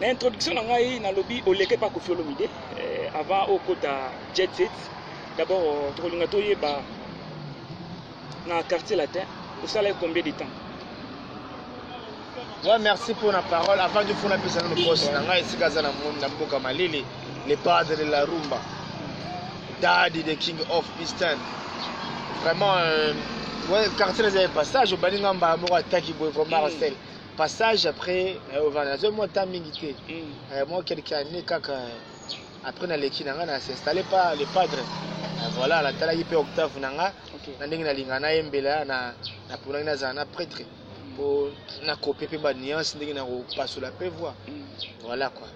na introduction na ngai nalobi oleke mpa kofi olomide eh, avant okota jet set d'abord euh, tokolinga toyeba na quartier latin osalaki combien de temps Ouais, merci pour la parole. Avant de faire personne le poste, dans la ici dans monde dans Boka Malili, le padre de la rumba, Daddy the King of Eastern. Vraiment, euh, ouais, quartier des passages, au Baningamba, Amour, Taki, Boy, vraiment, mm. passage après euh, ovanda nazoi mwa temps mingi te mm. euh, mwa quelque année kaka euh, après naleki na ngai na s'installe pas le padre voilà natalaki mpe octave na nga na ndenge nalinga nayembela naponaki nazala na prêtre mpo mm. nakope mpe banuance ndenge nakopasola mpe voi mm. voilà quoi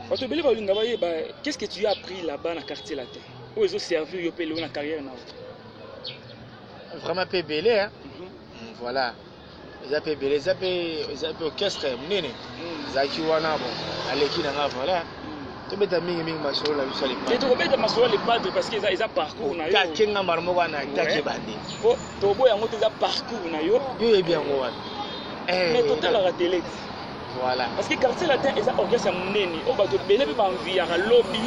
bato ebele balinga bayeba qu'est ce que tu as appris là-bas na quartier latin oyo ezoservir yo mpe lelo na carrière na yo vraiment mpe ebele mhm. voilà eza pe bele eza pe eza pe orchestre munene zaki wana bon aleki na nga voilà tobeta mingi mingi masolo na biso te tokobeta masolo ya lepadre parce que eza eza parcours na yo take nga mbala moko wana take bande po toboya yango te eza parcours na yo yo oyebi yango wana mais totalaka tele Voilà. Parce que quartier latin eza orchestre ya munene oyo bato ebele mpe banviyaka lobi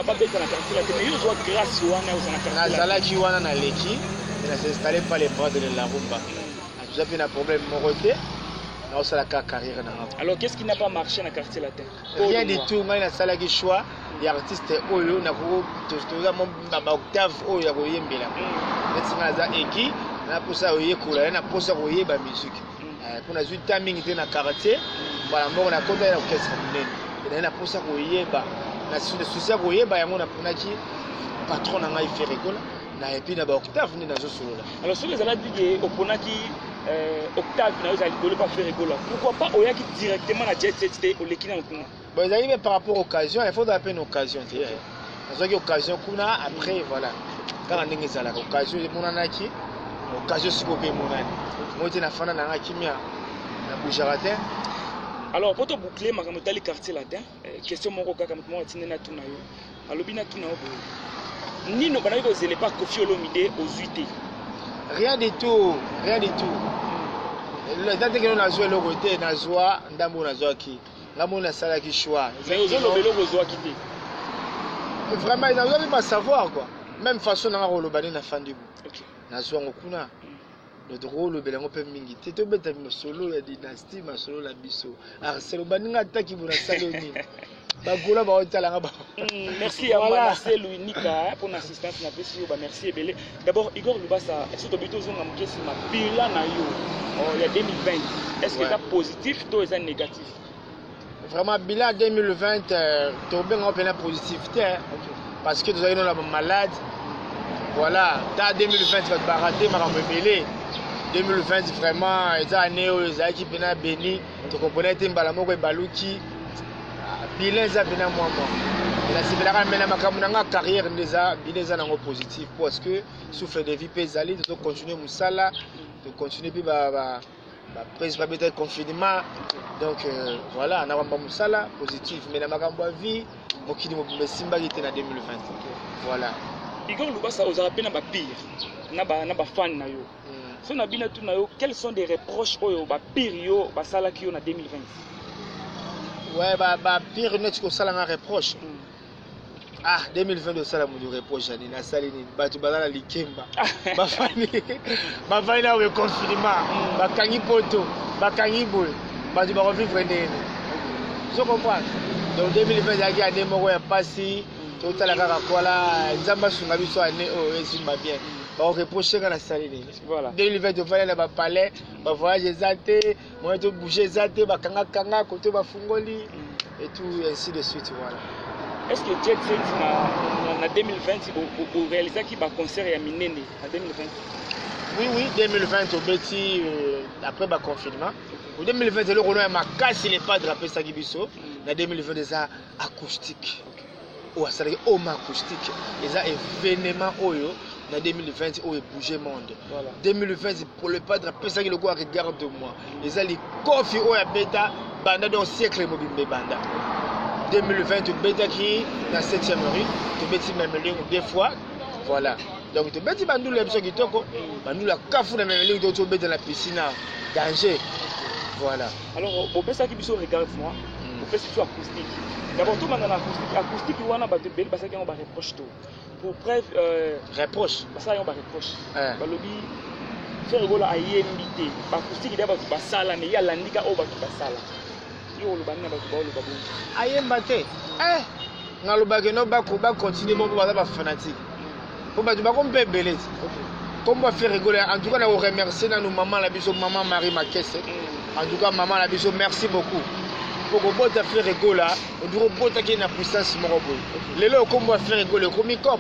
babeta na quartier latin mais yo ozwa grâce wana oza na quartier latin. nazalaki wana naleki na s'installe pas les bras de la rumba naza mpe na problème moko te naosala kaka carrière na ngai alors qu'est-ce qui n'a pas marché na quartier latin rien du tout ngai nasalaki choix ya artiste oyo nakotoza baoctave oyo ya koyembela neti ngai naza eki naposa koyekola ye naposa koyeba musique Eh, mpo nazwi nta mingi te na quartier mbala moko nakota na orchestre monene ezali na mposa koyeba na susi ya koyeba yango naponaki patron na ngai ferregola na epuis na baoctave nde nazosolola alors soki ezalaki ke oponaki eh, octave na yo ezali likolo mpa ferregola pourquoi pas oyaki directement na jet set te oleki na nkuna Bon, ezali mpe par rapport occasion, il faut ozala mpe na occasion te. Eh. Nazwaki occasion kuna, après voilà. Kaka ndenge ezalaka, occasion emonanaki, occasion sikoyo mpe emonani. Moi te nafanda na nga kimia, na bougaka te. Alors, pour te boucler, makambo etali quartier latin, eh, question moko kaka moto moko atindi natuna yo. Alobi natuna yo boye. Nino banaki kozela epa Koffi Olomide ozwi te. Rien du tout, rien du tout. eza ndenge nazwa eloko te nazwa ndambo nazwaki nga moni nasalaki choix mais ozoloba eloko ozwaki te vraiment nazwaki ba savoir quoi même façon nanga koloba nde nafandi bo nazwa yango kuna donc tokolobela yango mpe mingi te tobeta masolo ya dynastie masolo na biso arselo baninga ataki bona salo nini bagola baotalanga ba hmm, merci ya marcel winika mpo na assistance napesi yo bamerci ebele D'abord, Igor Lubasa, est-ce que Tobito Zonga Mukesi ma bilan na yo oh, il y a 2020 Est-ce que c'est positif ou c'est négatif Vraiment, bilan 2020, euh, Tobinga Opena positivité hein. parce que nous avons la malade. Voilà, dans 2020, tu vas te barater, ma 2020 vraiment eza année oyo ezalaki mpena béni tokompona ete mbala moko ebaluki ah, bilan eza mpena mwa mwa nasepelaka mpe na makambo na nga carrière nde eza bino eza nango positif parce que souffle de vie mpe ezali tozocontinue mosala tocontinue mpe baprise babeta confinement donc euh, voilà na bamba mosala positif mais na makambo ya vie mokili mobimba esimbaki te na 2020 voilà igor lubasa ozalaka mpe na bapire na bafane na yo So na bino tuna yo quels sont des reproches oyo ba pire yo basalaki yo na 2020? Ouais ba ba pire neti kosala nga reproche. Mm. Ah 2020 osala mutu reproche ani nasali nini bato baza na likemba bafandi bafandi na reconfinement mm. bakangi poto bakangi boye bato bakovivre ndenge nini ozo comprendre donc 2020 ezalaki ane moko ya mpasi mm. totala kaka kola nzambe asunga biso ane oyo oh, esimba bien bakoreproche nga nasali nini 2020 ovanda na bapalais bavoyage eza te moye tobouge eza te bakangakanga koto bafungoli mm. et tout ainsi de suite voilà est ce que jet set na, na, na 2020 orealisaki baconcert ya minene na 2020 oui oui 2020 tobeti euh, après baconfinement o 2020 eloko no ya makasi le padre apesaki biso mm. na 2020 eza acoustique okay. oyo asalaki home acoustique eza événement oyo na 2020 oyo ebouge monde voilà. 2020 pour le padre apesaki lokola regarde moi eza likofi oyo abeta banda donc siècle mobimba ebanda 2020 tobetaki na 7e rue tobeti memelingo deux fois voilà donc tobeti bandulu ya biso kitoko bandulu ya kafu na memelingo tobeta na piscine danger voilà alors bopesaki biso regarde moi hmm. bopesi biso acoustique d'abord tobanda na acoustique acoustique wana bato ebele basalaki yango bareproche to pour preuve euh, reproche basala yango bareproche eh. balobi frère egola ayembi te bacoustique da bato basala me ye alandika oyo bato basala yo oloba nini na bato baoloba bongo ayemba te eh, nalobaki no bacontinue moko baza bafanatique mpo bato bakomi mpe ebele nkombo ya fere gola en tout cas na koremercie nanu mama na biso mama marie makese mm. en tout cas mama na biso merci beaucoup mpo kobota fere gola ondiko obotaki na puissance moko boye lelo okombo ya fere gola ekomi cop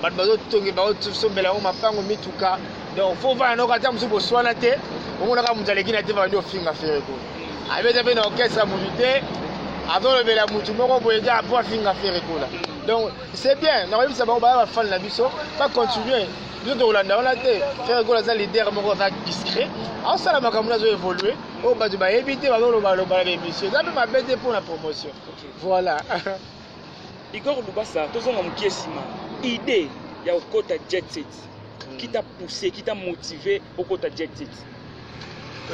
bato bazotongi baosombela yango mapango mituka donc fo vana noko ata mosusu boswana te omonaka moto aleki na te bandi ofinga fere gola mm. abeta mpe na orchestre ya motu te azolobela motu moko boye kaka mpo afinga fere gola mm. donc C'est bien, na koyebisa bango baya ba fan na biso, ba continuer. Biso tokolanda wana te. Ferre Gola aza leader moko aza discret. Asala makambo nazo évoluer. Oyo bato bayebi te bazoloba loba na émission. Eza mpe mabe te mpo na promotion. Voilà. Igor Lubasa, tozonga mokie nsima. Idée ya kokota jet set. Qui t'a poussé, qui t'a motivé okota jet set?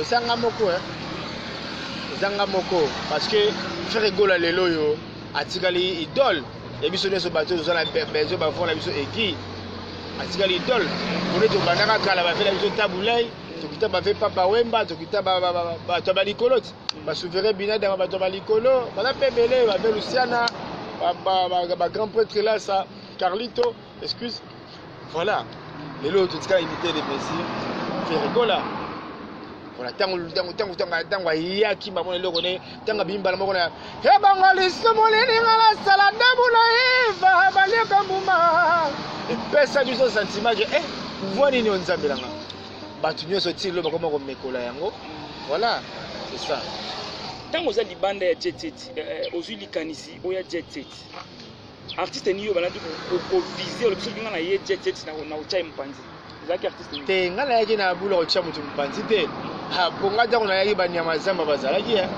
eza nga moko eh. eza nga moko parce que frere gola lelo oyo atikali idole ya biso nyonso bato oyo toza na bezo bavona biso eki atikali idole pone tobandaka kala bavela biso tabulai tokita bave papa wemba tokita bato ya balikolo ti basouverain binadama bato ya balikolo baza mpe ebele bave lusiana bagrand pretre lasa carlito excuse voilà lelo totika unité de mesure ferikola voilà ntango ntango ntango ntango ntango ayaki bango na eloko ne ntango abimi mbala moko na he bango lisumu lininga nasala dabu na eva baliaka mbuma epesa biso sentiment ke eh, voi nini oyo nzambe nanga bato nyonso ti lelo bakoma komekola yango voilà c'est ça ntango oza libanda ya jet set eh, eh, ozwi likanisi oya jet set artiste ni yo balandi kovize olobi soki ngai na ye jet jet na kotya ye mopanzi ozalaki artiste te ngai nayaki na bula kotya moto mopanzi te mpo ngai ntango nayaki banyama zamba bazalaki eh.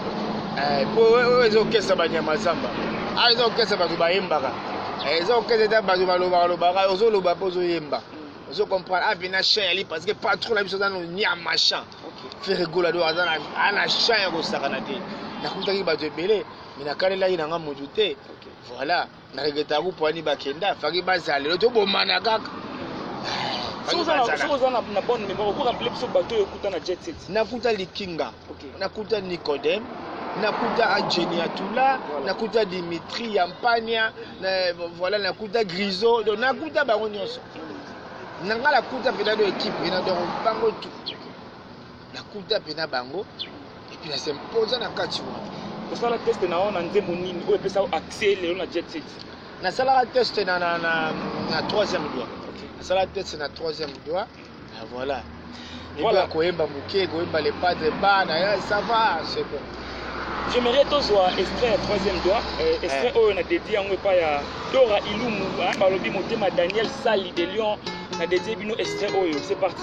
Eh, mpo oyo ezokesa banyama zamba awa ah, ezokesa bato bayembaka eh, ezokesa ete bato balobaka lobaka ozoloba mpo ozoyemba ozo comprendre abina ah, chien yali parce que patron na biso aza no nyama champ ferregola do aza na champ ya kosakana te nakutaki bato ebele me nakalelaki na ngai motu te Voilà, na regretta ku poani ba kenda, faki ba zale, lo to bomana kaka. Soki oza na bonne mémoire, oko rappeler biso bato oyo okuta na jet set. Nakuta Likinga, nakuta Nicodème, nakuta Adjeni Atula, nakuta Dimitri Yampania, voilà nakuta Griso, donc nakuta bango nyonso. Nanga nakuta mpenza do équipe, na donc bango tout. nakuta mpe na bango epuis na sempoza na kati wana osala teste na yo na nzembo nini oyo epesa yo accès lelo na jet set nasalaka teste na, na, na, na troisième doigt okay. nasalaka teste na troisième doigt ah, voilà voilà koyemba moke koyemba le padre bana eh, ça va c'est bon j'aimerais tozwa extrait ya troisième doigt euh, extrait eh. oyo na dédie yango epai ya dora ilumu balobi motema daniel sali de lion na dédie bino extrait oyo c'est parti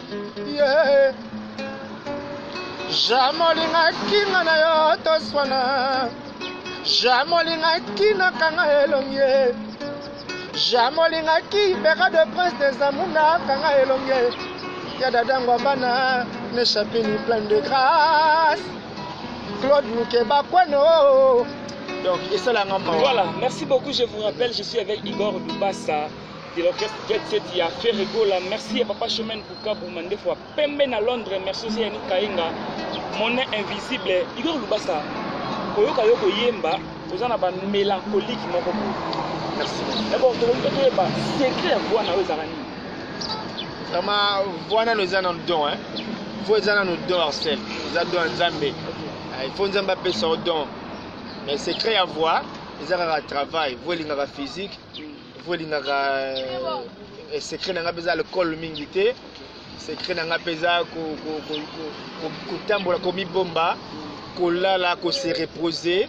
yeah. jame olingaki nga na yo toswana jame olingaki nakanga elongi ye jame olingaki beka de prince des amour nakanga elongi ye ya dadango bana nechapini plein de grâce claude mukeba kweno donc esalanga mawa voilà merci beaucoup je vous rappelle je suis avec igor dubasa de l'orchestre Jet Set ya Ferre Gola. Merci à Papa Chemin Bukabu Mandefo Pembe na Londres. Merci aussi à Nick Kainga. Mon invisible Igor Lubasa. Oyoka yoko yemba oza na ba mélancolique moko boye. Merci. D'abord tokoki mpe toyeba secret ya voix na yo ezalaka nini? Vraiment voix nano eza na don hein. Voix eza nano don Arsène. Eza don ya Nzambe. Ah, il faut Nzambe apesa yo don. Mais secret ya voix eza kaka travail. Voix elingaka physique. mpo elingaka eh, secret na ngai mpe eza alcool mingi te secret na ngai mpe eza kotambola komibomba kolala kose reposer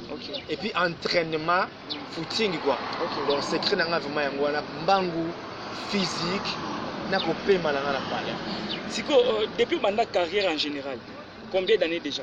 et puis entraînement footing quoi donc secret na ngai vraiment yango wana mbangu physique na kopema na ngai na palais sikoyo euh, depuis obanda carrière en général combien d'années déjà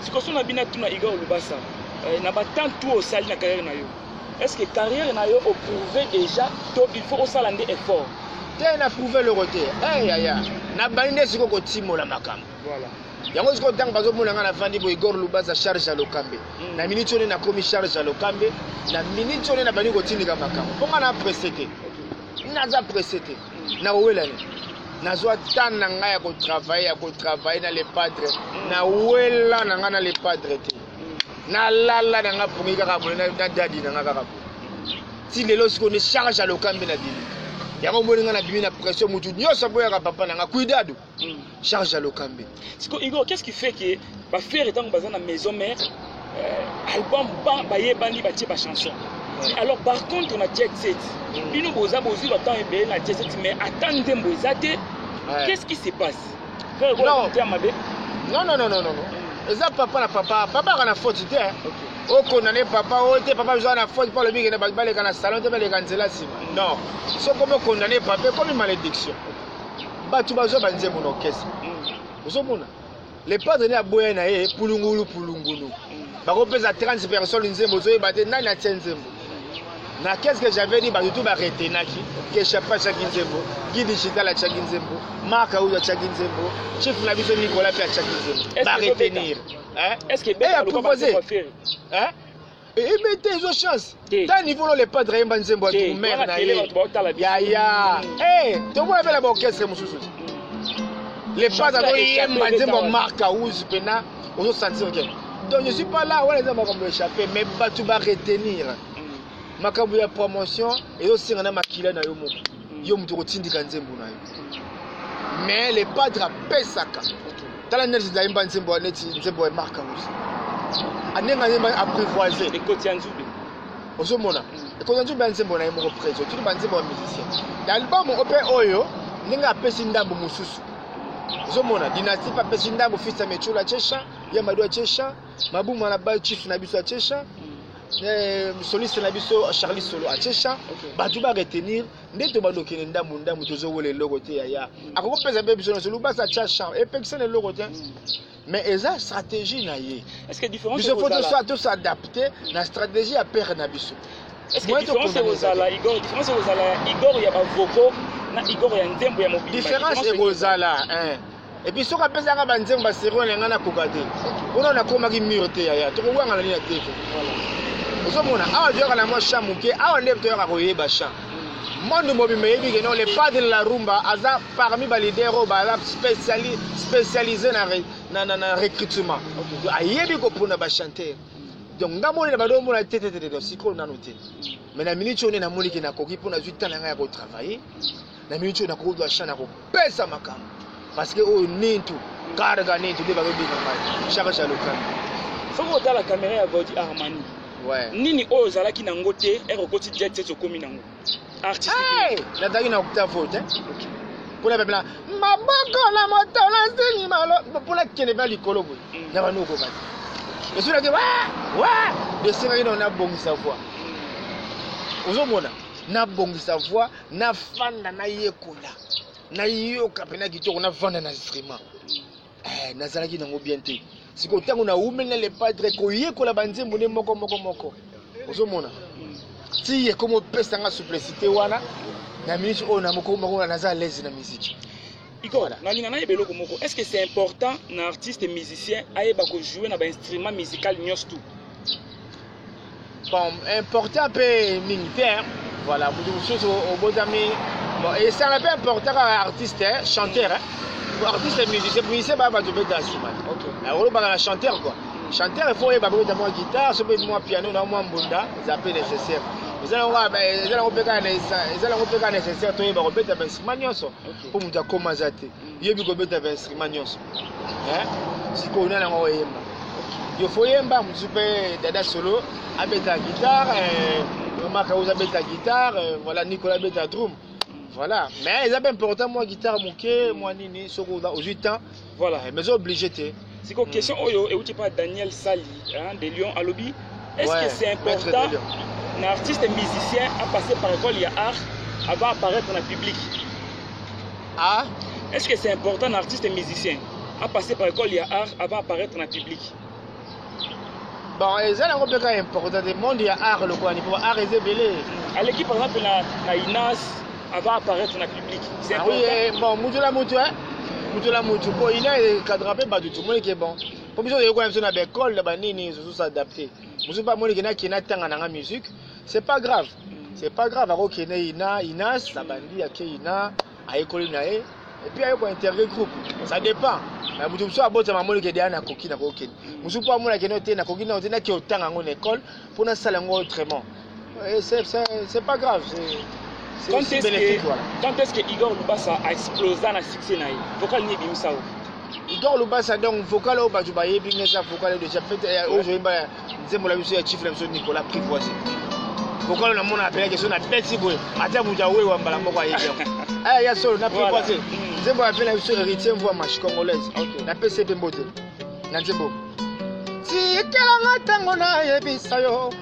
sikoyo so na bino atuna igor lubasa eh, na batemp tu osali na carrière na yo est ce que carrière na yo oprouve déjà to il faut osala nde effort te na prouve eloko te eh, yaya nabandi nde sikoyo kotimola makambo yango sikoyo ntango bazomona ngai nafandi bo igor lubaza charge ya lokambe mm. na miniti one nakomi charge ya lokambe na miniti one nabandi kotindika makambo mpo ngai na presse te naza presse te nawelani nazwa tane na ngai ya kotravaille ya kotravaille na le padre nawela na ngai na le padre te nalala na ngai pongi kaka boye na dadi na ngai kaka boye ti lelo sikoyo nde charge ya lokambi na bimi yango omoni ngai na bimi na pression motu nyonso aboyaka papa na ngai kuidado charge ya lokambe siko igo qu'est ce qui fait que bafere ntango baza na maison mère euh, album bayebani batie bachanson alors par contre na jet set mm. bino boza bozwi batemp ebele na jet set mais ata nzembo eza te qu'est ce qui se passe mabe non non non non non mm. eza papa na papa papa aka na faute te okondane papa oyo te papa ozala na faute mpo alobi kende baleka na salon te baleka nzela nsima mm. non soki omi okondane papa ekomi malédiction bato bazwa banzembo na orchestre mm. ozomona le padre nde aboya na ye pulungulu pulungulu mm. bakopesa 30 personne nzembo ozoyeba te nani atie nzembo na qu'est-ce que j'avais dit bato tu baretenaki keshapa atiaki nzembo gi digital atiaki nzembo mark auyo atiaki nzembo chief na biso nicolas mpe atiaki nzembo baretenir eh? est ce que eh, proposé hein eyebi te ezo chance ta niveau no le padre ayemba nzembo ya tumere na ye yaya eh, tokoya mpe na baorchestre mosusu mm. le padre azoyemba nzembo ya mark house mpena ozo sentir ke donc je suis pas là wana eza makambo échappe mais bato ba retenir mm. makambo ya promotion ezosenga na makila na yo moko yo moto okotindika nzembo na yo mais le padre apesaka tala neti ndayemba nzembo neti nzembo ya mark ausi andenga nzembo apprivoise ekoti ya nzube ozomona ekoti ya nzube ya nzembo na ye moko preso tuni banzembo ya musicien na album ope oyo ndenge apesi ndambo mosusu ozomona dinasti mpe apesi ndambo fils ya mechola chesha ya mado ya chesha mabuma na ba chief na biso ya chesha Eh, soliste na biso charlie solo atie chant bato ba retenir nde tobanda okende ndambu ndambu tozowela eloko te yaya akoki kopesa mpe biso nyonso lubasa atia chant epekisa na eloko te mais eza stratégie na ye biso fo tosadapte na stratégie ya pere na biso différence ekozala igor ya bavoko na igor ya nzembo ya mobili différence ekozala epuis soki apesaka banzembo baserio na ngai nakoka te mpona nakomaki mur te yaya tokowanga na nini te ozomona awa toyaka na mwa champ moke awa nde toyaka koyeba champ monde mobimba eyebi ke non le pas de la rumba aza parmi baleader oyo baza spécialise na recrutement ayebi kopona bachanteur donc nga monene bado omona te tetete sikoyo nano te mais na miniti oyo nde namoni ke nakoki mpo nazwi ntango na ngai ya kotravaille na miniti oyo nakoki kozwa chance ya kopesa makambo parce que oyo nintu karga nintu nde bazobika ngai shaka shalokami soki otala kamera ya gaudi armani ouais. nini oyo ozalaki na yango te eke okoti jet set okomi na yango artiste hey! nazalaki na okuta vote okay. mpona bapela maboko na moto nasili malo mpona kende mpe likolo boye mm. na banu okokaki esolaki wa wa esengaki nao nabongisa voi mm. ozomona nabongisa voi nafanda nayekola nayoka mpena kitoko nafanda na instrument eh, nazalaki nango bien te sikoyo ntango naumeli na lepadre koyekola banzembo nde moko moko moko ozomona ti ekomi opesa nga souplicité wana na minute oyo namokomakoa naza alaise na miziki iko nalinga nayeba eloko moko est ce que c'est important na artiste musicien ayeba kojoue na bainstrument musical nyonso tout bon important mpe mingi te voilà moto mosusu obotami bon esala mpe important kaka artiste eh, chanteur eh. artiste musicien musicien baya bato obeta nsima te olobaka na chanteur quoi chanteur efo oyeba bobeta mwa guitare so obeti mwa piano na mwa mbunda eza mpe nécessaire eza nango mpe kaka nécessaire toyeba kobeta bainstrument nyonso mpo moto akoma aza te yebi kobeta ba instrument nyonso eh? sikoyo nani yango oyemba yo fo yemba mosusu mpe dada solo abeta guitare eh, omaka oza abeta guitare eh, voilà nicolas abeta drum voilà mais eza mpe important mwa guitare moke mwa nini soki ozwi temps voilà mais oza oblige te siko hmm. question oyo euti pa daniel sali hein, de lyon alobi est ce que c'est important na artiste musicien apasse par école ya art avant apparaître na public ah est ce que c'est important na artiste musicien apasse par école ya art avant apparaître na public bon eza nango mpe kaka important te monde ya art lokola nipo art eza ebele aleki par exemple na, na inas avant apparaître na public c'est ah oui eh, bon mutu la mutu hein mutu la mutu po il est cadre pe batu tout monde qui est bon po biso yeko na biso na l'école na banini zo s'adapter mutu pas moni kena kena tanga na musique c'est pas grave c'est pas grave ako kena ina ina sa bandi ya ke ina ayekoli na ye et puis ayeko interview groupe ça dépend na mutu mutu abota mamoni ke dia na koki na kokende mutu po amona kena te na koki na te na ke otanga ngo na école pona sala ngo autrement Eh, c'est pas grave. Quand est-ce que, voilà. quand est-ce que Igor Lubasa a explosé dans la succès naï Vocal ni bimisa ou Igor Lubasa donc vocal au batu baye bimisa vocal de chapet et au jour ba nzembo la biso ya chiffre biso Nicolas Privoise. Vocal na mona appelé que son a petit boy. Ata buja we wa mbala moko aye. Ah ya solo na Privoise. Hmm. Nzembo appelé biso héritier voix marche congolaise. Na PCP mbote. Na nzembo. Tikelanga tango na yebisa yo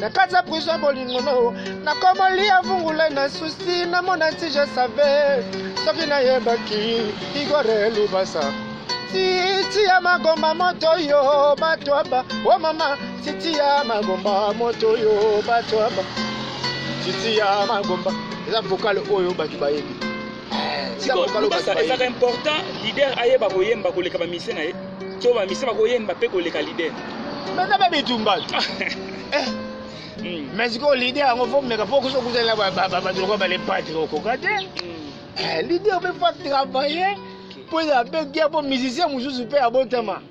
na kati ya prison bolingo no nakomolia vungula na susi namona nti je save soki nayebaki igore lubasa titi ya magomba moto yo batwaba o mama titi ya magomba moto yo batwaba titi ya magomba eza vokale oyo bato bayebi sikoyo lubasa ezalaka important leader ayeba koyemba koleka bamise na ye to bamise bakoyemba mpe koleka leader meza mpe bitumba eh. hmm. mais sikoyo leader yango fo meka fo kusa kusala bato lokola balepatri okoka te hmm. eh, leader mpe fo travaille mpo eza mpe gia mpo musicien mosusu mpe abotama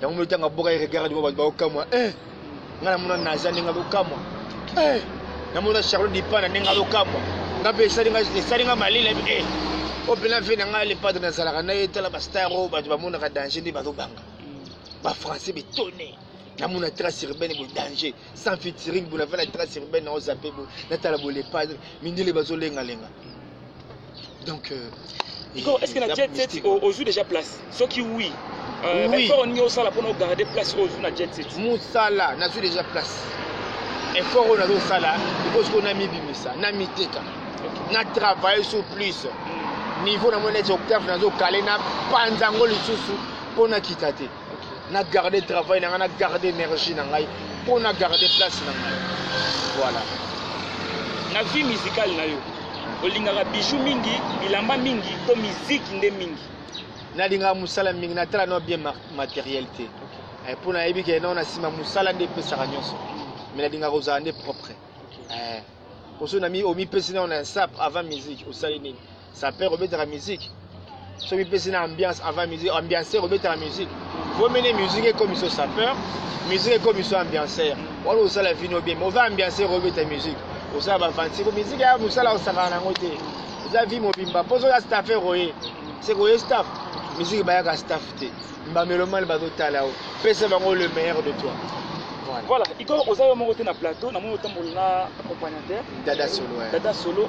yango mino tanga boka regard dimo bato baokamwa e eh, ngai namona naza ndenge azokamwa e eh, namona charlot dipana ndenge azokamwa ngai mpe esali ngai malele e eh, oyo mpe na vie na ngai lepadre nazalaka na ye tala bastar oyo bato bamonaka danger nde bazobanga bafrançais betone namona trace urbaine bodanger sans featuring bona vana trace urbaine nao zape bo natala bo les padres mindele bazo lenga lenga donc euh, Nico, est-ce que na jet set ozwi déjà place soki oui euh, oui. effort olingi osala mpona ogarde place oyo ozwi na jet set mosala nazwi déjà place effort oyo nazosala ikosi ko namibimisa namiteka na travaille sur plus hmm. niveau na moni neti octave nazokale na panza yango lisusu mpo nakita te na garde travail na ngai na garde énergie na ngai mpo na garde place na ngai voilà na vie musicale na yo olingaka bijou mingi bilamba mingi to miziki nde mingi nalingaka mosala mingi natala no bien matériel te eh, mpo nayebi ke nao na nsima mosala nde epesaka nyonso mai nalingaka kozala nde propre eh, oso omipesi nao na insap avant musique osali nini Sapeur obetaka musique soki pesi na ambiance avant musique ambianceur obetaka musique bomene musique ekomi so sapeur musique ekomi so ambianceur wana osala vino bien ova ambianceur obeta musique osala bavansi ko musique ya mosala osakana nango te eza vie mobimba mpo soki astaffer oye seke oye staff musique bayaka staff te bamelomane bazotala yo pesa bango le meilleur de toi voilà iko oza yo moko te na plateau namoni otambola na accompagnateur dada solo dada solo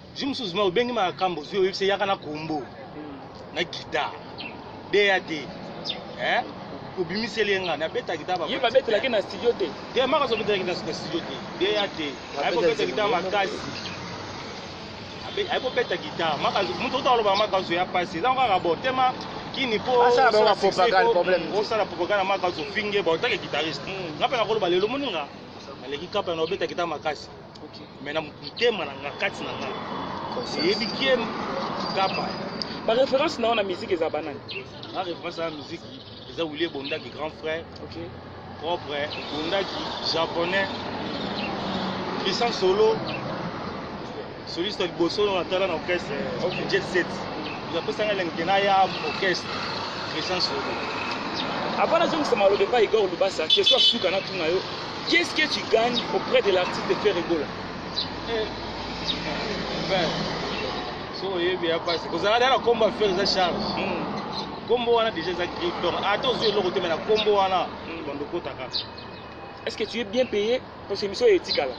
Zi mususu ma obengi ma kambo zi oyebisa yaka na kombo hmm. na guitare DAD eh obimiseli nga na beta guitare ba yeba betela ke na studio te te maka so betela ke na studio te DAD ayo beta guitare makasi ayo beta guitare maka mutu otaloba maka so ya pasi eza kaka bo tema kini po asala ba propagande problème osala propagande maka so finge ba otake guitariste hmm. ngape na koloba lelo moninga aleki kapa na obeta guitare makasi mais na motema na nga kati na nga eyebi kie kapa ba référence na yo na musique eza banani na référence na musique eza wilie bondaki grand frère okay. propre bondaki japonais christian solo soliste ya liboso na tala na orchestre okay. jet set apesanga elengi na ya orchestre christian solo avant nazongisa maloba epai igor lubasa question ya suka natuna yo Qu'est ce que tu gagnes auprès de l'artiste Ferre Gola? Ben, so oyebi ya pasi kozala dala kombo ya Ferre eza charme. Hmm. Kombo wana déjà eza griffe donc ata ozwi eloko te mais na kombo wana hmm. bando kota kaka. Est ce que tu es bien payé parce que émission etikala?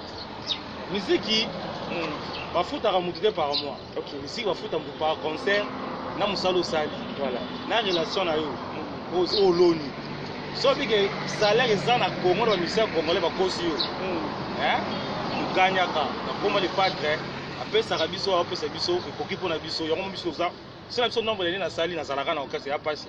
Miziki hmm. bafutaka motu te par mois. Ok, musique bafuta mbu par concert na mosala osali voilà. na relation na yo oyo oloni soki ke salaire eza na congo na bamisien ya congolais bakosi yo oganyaka hmm. nakoma le padre apesaka biso apesa biso ekoki mpo na biso yango biso oza sina biso nombre lene nasali nazalaka na okasi ya pasi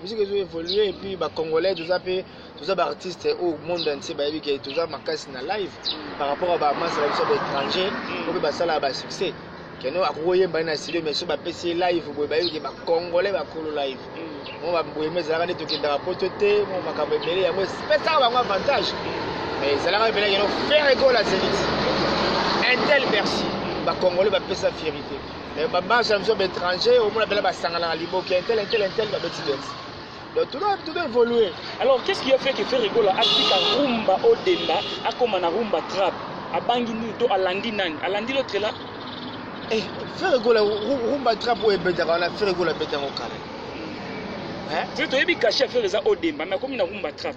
musique ezo évoluer et puis ba congolais toza pe toza ba artistes au monde entier ba yebi que toza makasi na live par rapport à ba masse ba biso ba étrangers ko pe basala ba succès keno akokoyemba na studio mais so ba pesi live boye ba yebi que ba congolais ba kolo live mo ba boye mais ezalaka nde tokendaka poto te mo makambo ebele yango epesaka bango avantage mais ezalaka ebele keno ferre gola zenith un tel bercy ba congolais ba pesa fierité mais ba marche na biso ba étranger omona bela basanganaka liboki intel intel intel babeti beti donc tout doit, tout doit évoluer alors qu'est ce qui a fait que ferre gola atika rumba odemba akoma na rumba trap abangi nini to alandi nani alandi l'autre là eh, ferre gola rumba trap oyo ebetaka wana ferre gola abeta yango kala toyebi kashe ya ferre eza odemba mais akomi na rumba trap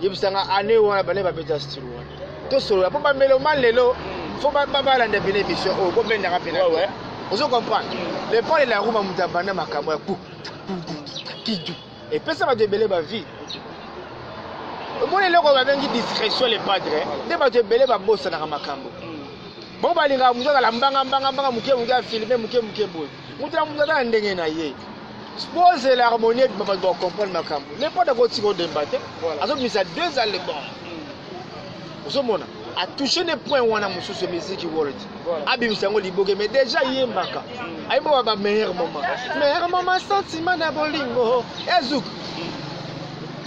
yebisa nga année wana bane babeta style wana tosolola mpo bameloma lelo fo babalanda pene émission oyo kobendaka pene ozo comprendre mm. le pole la ruma moto abanda makambo ya ku kidu epesa bato ebele bavie omoni eloko babengi discrétion le padre nde bato ebele babosanaka makambo mm. bango balingaka moto azala mbangambangambanga moke moke afilme moke moke boye moto na moto aza na ndenge na ye pose la harmonie ebima bato bacomprendre makambo lepota kotika odemba te azobimisa deux album ozomona atouche ne point wana mosusu ya miziki world abimisa yango liboke mais déjà yembaka mm. ayembaka ba meilleur moment meilleur moment sentiment na bolingo ezuk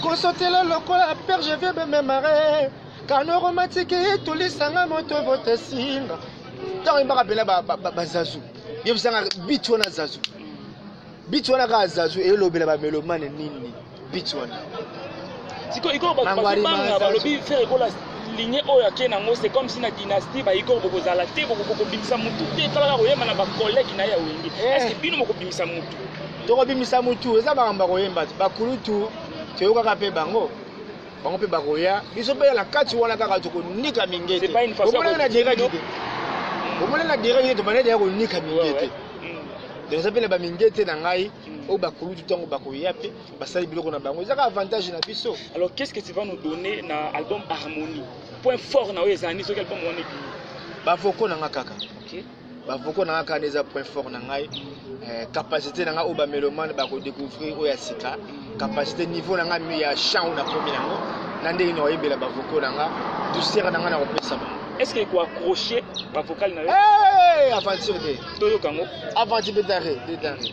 kosotela lokola père je viens me memare kano romatiki etolisanga moto votesinga ntango yembaka mpena bazazu ye bisanga bit wana zazu bit wana kaka zazu elobela ba melomane nini bit wana sikoyo ikoyo bato Mangwari bazobanga Manzazu. balobi fere ekola ligne oyo ake nango c'est comme si na dynastie baikoyo bokozala te bokobimisa motu te tala kaka koyemba na bacollègue na ye ya wenge Eh. eske bino bokobimisa motu tokobimisa mutu eza makambo ya koyemba te bakulutu toyokaka mpe bango bango mpe bakoya biso mpe na kati wana kaka tokonika mingete omonaki na direct te omonaki na direct te tobandaki deya konika mingete donc eza mpe na bamingete na ngai mm. oyo bakulutu ntango bakoya mpe basali biloko na bango ezaka avantage na biso alors qu'est ce que tu vas nous donner na album harmonie point fort na oyo ezali soki album wana ebimi bavoko na nga kaka ba vocaux na nga kaka eza point fort na ngai eh, capacité na nga oyo ba melomane ba ko découvrir oyo ya sika capacité niveau na nga mi ya chant na komi na ngo na ndenge na oyebela ba vocaux na nga douceur na nga na kopesa ba est-ce que ko accrocher ba vocaux na yo eh aventure de toyoka ngo aventure de dare de dare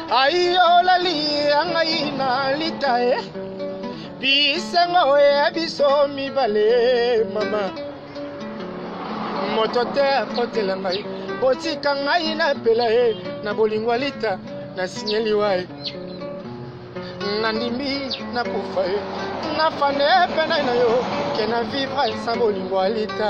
ayolali ya ngai na lita e bisengo ya biso mibale mama moto te akotela ngai botika ngai na pela e na bolingo ya lita na sinyeliwa e nandimi nakufa e nafane mpe nai na yo ke na vivre sa bolingo ya lita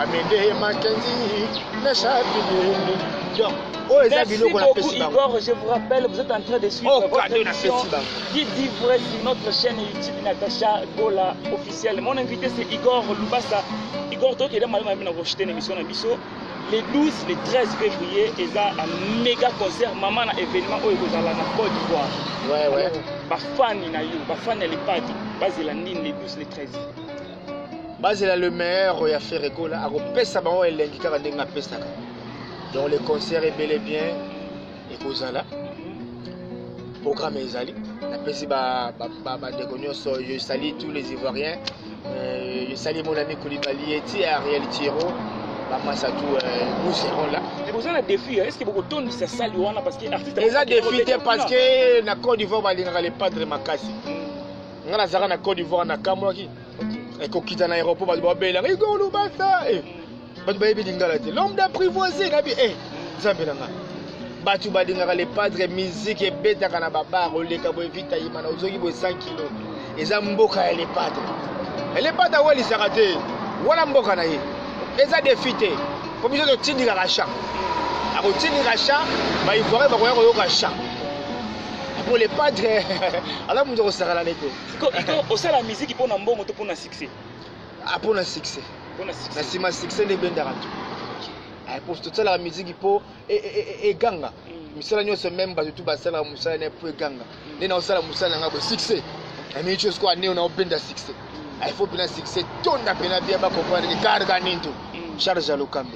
amende makenzi leshabile oyo eza biloko na pesi bango Igor, je vous rappelle, vous êtes en train de suivre Oh, votre cadeau na émission pesi bango. qui dit vrai sur notre chaîne YouTube Natacha Gola officielle. Mon invité c'est Igor Lubasa. Igor Toki est malama na rejeter une émission na biso. Le 12, le 13 février, ils a un méga concert maman na événement oyo ekozala na Côte d'Ivoire. Ouais, ouais. Alors, ba fan na yo, ba fan ya Lepadi, bazela nini le 12, le 13. bazela le meilleur ya ferre gola akopesa bango elengi kaka ndenge apesaka donc le concert ebele bien ekozala programme ezali napesi bandeko nyonso je sali tous les ivoiriens euh, je sali mon ami kolibali eti ariel tiro bamasa tu euh, nous serons là boza na défi est ce que bokotondisa sali wana parce que artiste eza défi te parce que na côte d'ivoire balingaka le padre makasi nga nazalaka na cote d'ivoire nakamwaki ekokita na aéroport bato babelanga igor lubasa eh, bato bayebi lingala te l'homme d'apprivoise nabi e eh, nzambe na nga bato balingaka le padre musique ebetaka na babar oleka boye vita yimana ozoki boye 100 kilo eza mboka ya le padre le padre awalisaka te wana mboka na ye eza defi te mpo biso totindikaka champ akotindika champ baivoirien bakoya koyoka champ Pour les padres, alors nous osala na nete. Iko iko osala musique pona mbongo to pona succès. Ah pona succès. Pona succès. Na sima succès nde bendaka tu. Ah pour tout ça la musique po e e e ganga. Mm. Misala nyonso même bato tout basala musala na po e ganga. Mm. Nde na osala musala ngabo succès. Na mimi chose ko ane na obenda succès. Mm. Ah il faut pena succès tonda pena bien ba comprendre ni karga ninto. Charge à l'okambe.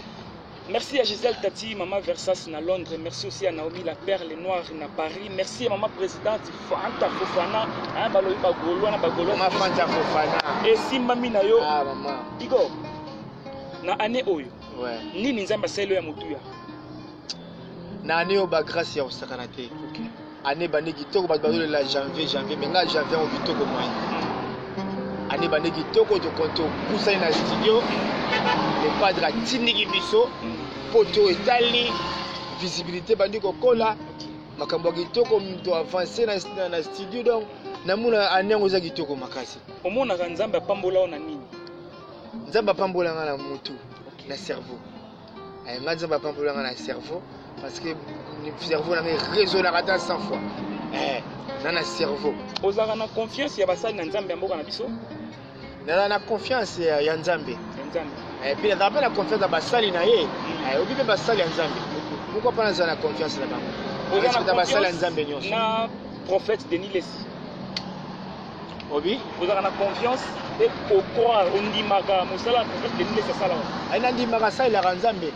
Merci à Gisèle Tati, Maman Versas na Londres. Merci aussi à Naomi La Perle Noire na Paris. Merci à Maman Présidente Fanta Fofana. Hein, balobi ba Golo na ba Golo. Maman Fanta Fofana. Et Simba Minayo. Ah, maman. Digo. Na année oyo. Ouais. Nini nzamba selo ya mutuya. Na année oyo ba grâce ya osakana te. Okay. Année bande kitoko bato bazolela janvier janvier mais ngai janvier yango kitoko moyen année bande kitoko topusani na studio le padre atindiki biso mpo to etali visibilité ebandi kokola makambo ya kitoko moto avance na studio donc namona année yango eza kitoko makasi omonaka nzambe apambola yo na nini nzambe apambola ngai na motu na cerveau Eh, nga nzambe apambola nga na cerveau parce que cerveau na ngai raisonnaka ata 100 fois eh, na na cerveau ozalaka na confiance ya basali na nzambe ya mboka na biso nazala na confiance ya nzambe mpe nazala mpe na confiance ya basali na ye mm. eh, obi mpe basali ya nzambe pourkoi mpa nazala na confiance na bango basali ya nzambe nyonso prophète denis lesi obi ozalaka na confiance mpe ocroire ondimaka mosala ya prophète denis lesi asalaka ai nandimaka asalelaka nzambe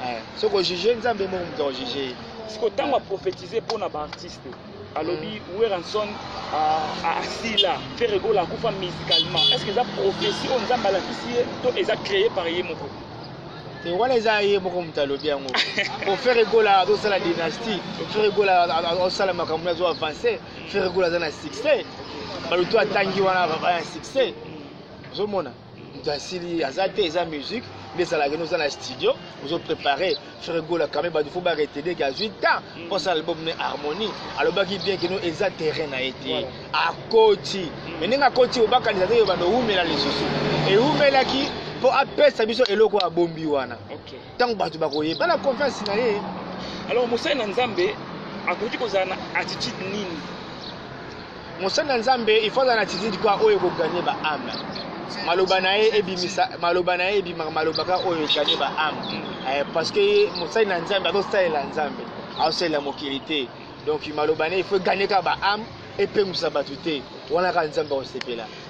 eh, soki ojuge nzambe moko moto akojuge ye siko ntango aprophétise mpo na baartiste alobi mm. weranson asila ah, ah, ferregola akufa musicalement est ce que eza prophétie oyo nzambe alakisi ye to eza créé par ye moko te wana eza ye moko moto alobi yango po ferregola azosala dynastie ferregola azosala makambo azwa avance ferre gola aza na succès balutu atangi wana baba ya succès ozomona moto asili aza te eza musique nde ezalaka no oza na studio ozo prépare ferre gola kame bato fo baretede ke azwi temps mm. mpo asala album ne harmonie alobaki bien keno eza terrain na ye te akoti mm. me ndenge akoti obakanisa te yo bando owumela lisusu ewumelaki mpo apesa biso eloko abombi wana okay. ntango bato bakoyebana confiance na ye alors mosali na nzambe akoki kozala na attitude nini mosali na nzambe ifo azala na attitude kua oyo ekoganye baame maloba na ye ebimisa maloba na ye ebimaka maloba kaka oyo eganye baame eh, parce que mosali na nzambe azosalela nzambe azosalela mokili te donc maloba na ye ifo eganye kaka baame epengwisa bato te wana kaka nzambe akosepela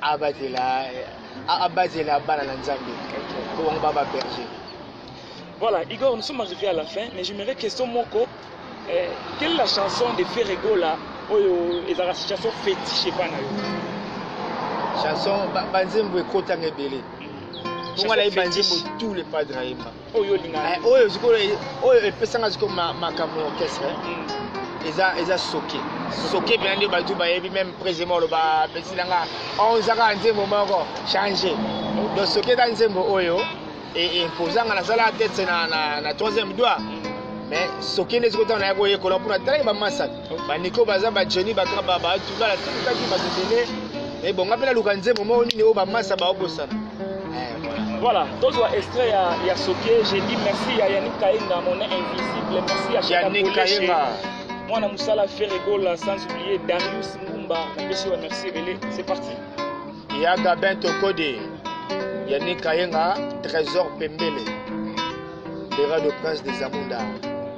abatela abatela bana na nzambe po bango baba berger voilà igor nous sommes arrivés à la fin mais j'aimerais question moko eh, quelle est la chanson de ferregola oyo ezalaka situation fétiche epa na yo chanson banzembo ekotanga ebele mpo nga nayebi banzembo tout le padre ayemba oyo olingaka eh, oyo sikoyo oyo epesanga sikoyo makambo ya orchestre eh. hmm. eza eza soke soke mpena nde bato bayebi meme président oloba apesi na nga onzaka nzembo moko change donc soke eza nzembo oyo eposanga e, nasala tete na troisième doigt hmm. mais soke nde sikoyo ntango naye koyekola mpona talaki bamasaka baniko baza bajeni bakaba bato balatindikaki bato ebele ebonga mpe naluka nzembo moko nini oyo bamasa baobosana Voilà, tozwa extrait ya, ya Sokie, j'ai dit merci à Yannick Kainga, mon invisible, merci à Yannick Kainga. Mwana musala Ferre Gola, sans oublier Darius Mumba, napesi wa merci ebele, c'est parti. Ya Gabin Tokode, Yannick Kainga, Trésor Pembele, Bera de Prince des Amunda.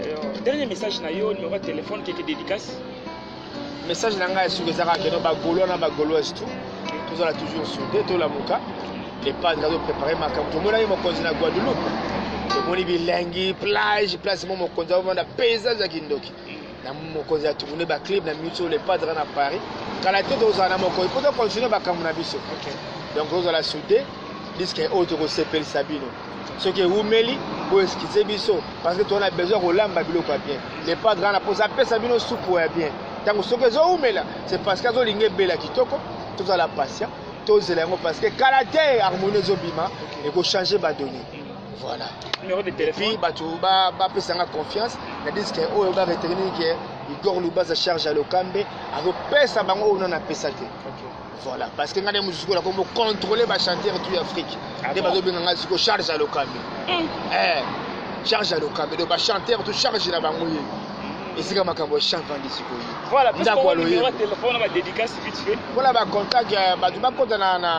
Euh, dernier message na yo numéro ya telefone keke dédicace message na ngai ya suka ezaka keno bagolois na bagoloise tout tozala toujours soude tolamuka epadre azoprépare makambo tomonaki mokonzi na guadeloupe tomoni bilengi plage place mo mokonzi aovanda paysage ya kindoki na mokonzi ya tourne baclub na biso le padre na paris kala te tozala na mokonzi mpo tocontinue makambo na biso donc tozala soude diske oyo tokosepelisa bino soki ewumeli boeskize biso parce que tozana besoin kolamba biloko ya bien le padre wana mposa apesa bino supu ya bien ntango soki ezowumela c'est parce que azolinga ebela kitoko tozala patient tozela yango parce que kala te harmonie ezobima ekochange badonne voilà numéro de téléphone puis bato bapesanga confiance na diske oyo baretenir ke igor lubaza charge ya lokambe azopesa bango oyo nana apesa te voilà parce que ngai nde mosusu kola kombo contrôle bachanteur tout afrique ah nde bazobenga ngai siko charge ya lokambe hmm. eh, charge ya lokambe donc bachanteur tout charge na bango ye hmm. esika makambo ya chante vandi sikoyo ndako aloyempo na bacontact bato bakota na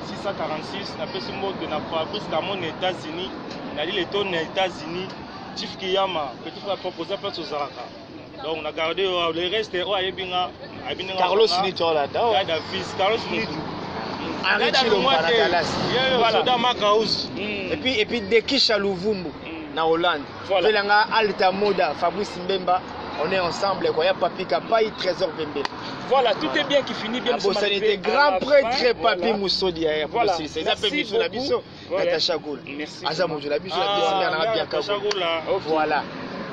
646 napesi mbote na fabrice kamo na états-unis na lile to na états-unis chief kiyama petit frère propre oza place ozalaka donc na garde yo le reste oyo ayebi nga ayebi ndenge carlos nito olanda gada fils carlos nito soda makausi epuis dekisha luvumbu hmm. na hollande Voilà. Fela nga Alta Moda, Fabrice Mbemba, on est ensemble quoi. Ya Papi Kapai, Trésor Bembe. Voilà, tout voilà. est bien qui finit bien. Abosani te grand prêtre Papi voilà. Musodi ya voilà. Papi Silisa. Eza pe biso na biso. Voilà. Natacha Gola. Merci. Aza mojo na biso na biso ah, na bien ka. Natacha Gola. Voilà.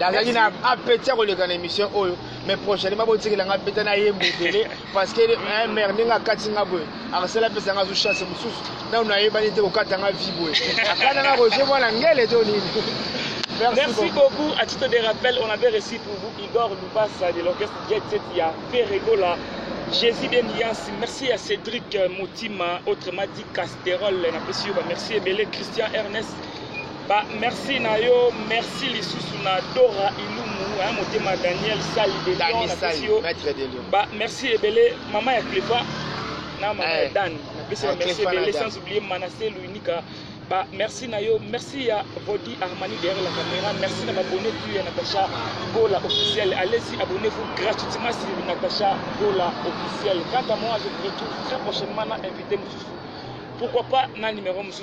nazalaki na apeti ya koleka na émission oyo mais prochainement botikela ngai mpeta na ye mbutele parce que un mère ndenge akati nga boye akasala apesa nga zo chance mosusu nanu nayebani te kokata nga vie boye akata nga roger mwana ngele to nini Merci, Merci beaucoup. beaucoup. À titre de rappel, on avait reçu pour vous Igor Lubasa de l'orchestre Jet Set ya Ferregola. Jésus bien Yance. Merci à Cédric Motima, autrement dit Casterol. Merci Christian Ernest. Ba merci na yo, merci lisusu na Dora Ilumu, hein, motema Daniel Sali de Dani Sali, maître de Lyon. Ba merci ebele maman ya Clefa na maman eh, ya Dan. Na pesi ba eh, merci ebele sans oublier Manassé Luinika. Ba merci na yo, merci ya Body Armani derrière la caméra, merci na abonné tu ya Natacha Gola officiel. Allez-y, abonnez-vous gratuitement sur Natacha Gola officiel. Quant à moi, je vous retrouve très prochainement na invité Moussou. Pourquoi pas na numéro Moussou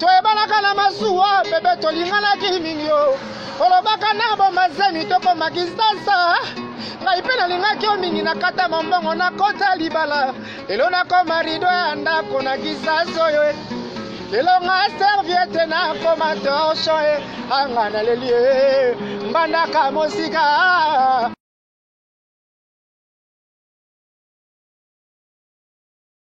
toyebanaka na masuwa bebe tolinganaki mingi yo olobaka na bomazemi tokoma kisasa ngai mpe nalingaki yo mingi nakata mombongo nakota libala lelo nakoma rido ya ndako na kisasa oyo eh. lelo nga serviete nakoma torsho eh. anga naleli eh. mbandaka mosika